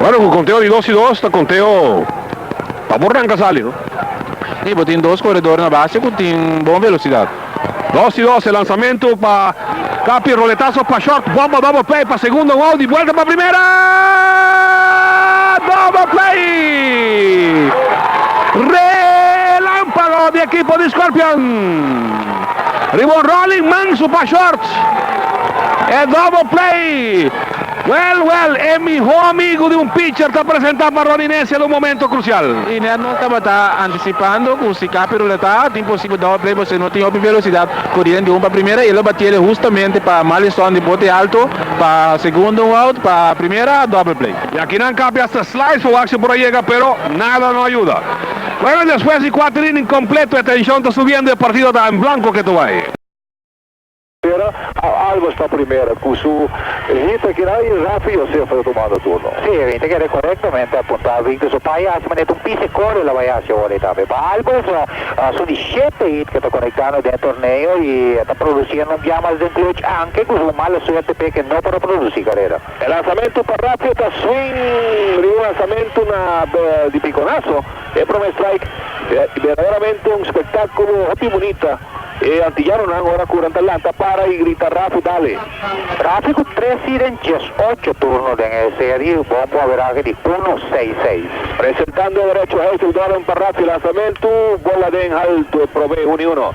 Bueno, cu conteo di dos y dos ta conteo pa bo ranca sali, no? Si, bo tin dos corredor na base cu tin bon velocidad. Dos y dos, e lanzamento pa Capi, roletazo pa short, bomba double play pa segundo, un out, di buelta pa primera! Double play! Relampago di ekipo di Scorpion! Riba un rolling manso pa shorts e double play. Well well e miho amigo di un pitcher ta presenta pa Ronnie Necia na un momento crucial. Y net nos tabata anticipando cu si Cappy ruleta ta imposible double play pasobra no tin hopi velocidad curiendo di home pa primera y e lo batiele justamente pa Marlinson di bote alto pa segundo un out pa primera double play. Y aki nan Cappy hasta slice pa waak si por a yega pero nada no a yuda. Pero despues di kuater inning kompleto e tenshon ta subiendo, e partido ta en blanco ke Toay. Spera a Albers pa primera ku su hit ta keda i Rafi Josef ta tumando turno. Sí, Erwin ta keda korektamente apunta. Victor Zopaya hasi manera ta un pise kore lo bai hasi awor ei tambe. Pa Albers son di shete hit ke ta konektando den e torneo i e ta produsiendo un biaha mas den clutch anke ku su un mala suerte p'e ke no por a produsi karera. E lansamentu pa Ratio ta swing riba un lansamentu na di Piconazo. E prome strike berdaderaamente un spektakulo hopi bunita. E antiyanonan ora ku nan ta lanta para i grita Rafi dale! Rafi ku tres hit den diesocho turno den e serie bon ku averahe di uno seis seis. Presentando derecho Hazel Doran pa Ratio, lansamentu bola den haltu e prome uni uno.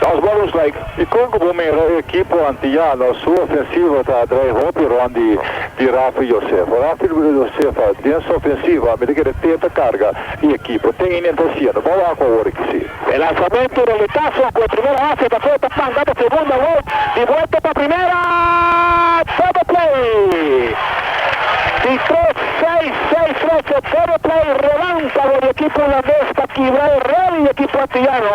Dos balons like, dikon ku bo mira e ekipo antiyano su ofensiva ta atrae hopi rònt di Raffy Josefa? Raffy Josefa den su ofensiva mi ta kere tenta karga i ekipo. Ten i nen ta hasiendo. Bou a ku awor e kisí. E lansamentu den e kaso ku e primer hasi ta kore ta planta pa segunda wei di buelta pa primera. Double play di tres seis seis tres. E double play relámpago di ekipo hulandes ta kibra e rel di ekipo antiyano.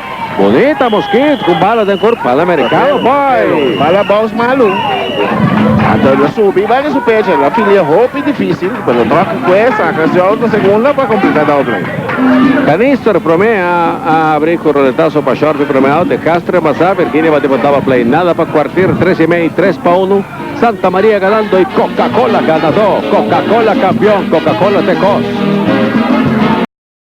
Bonita Mosquit cu bala den cor pala Mercado bay. Bala bounce malu. Anto lo subi bay na su pecho. Lo filia hopi dificil. Pero troc cue saca Joe na segunda pa completa doble. Canister prome a abri cu roletaso pa short prome out de Castro en basa. Virginia bati pa double play. Nada pa cuartier tres y mey. Tres pa uno. Santa Maria ganando y Coca-Cola ganador. Coca-Cola campeon. Coca-Cola te cos.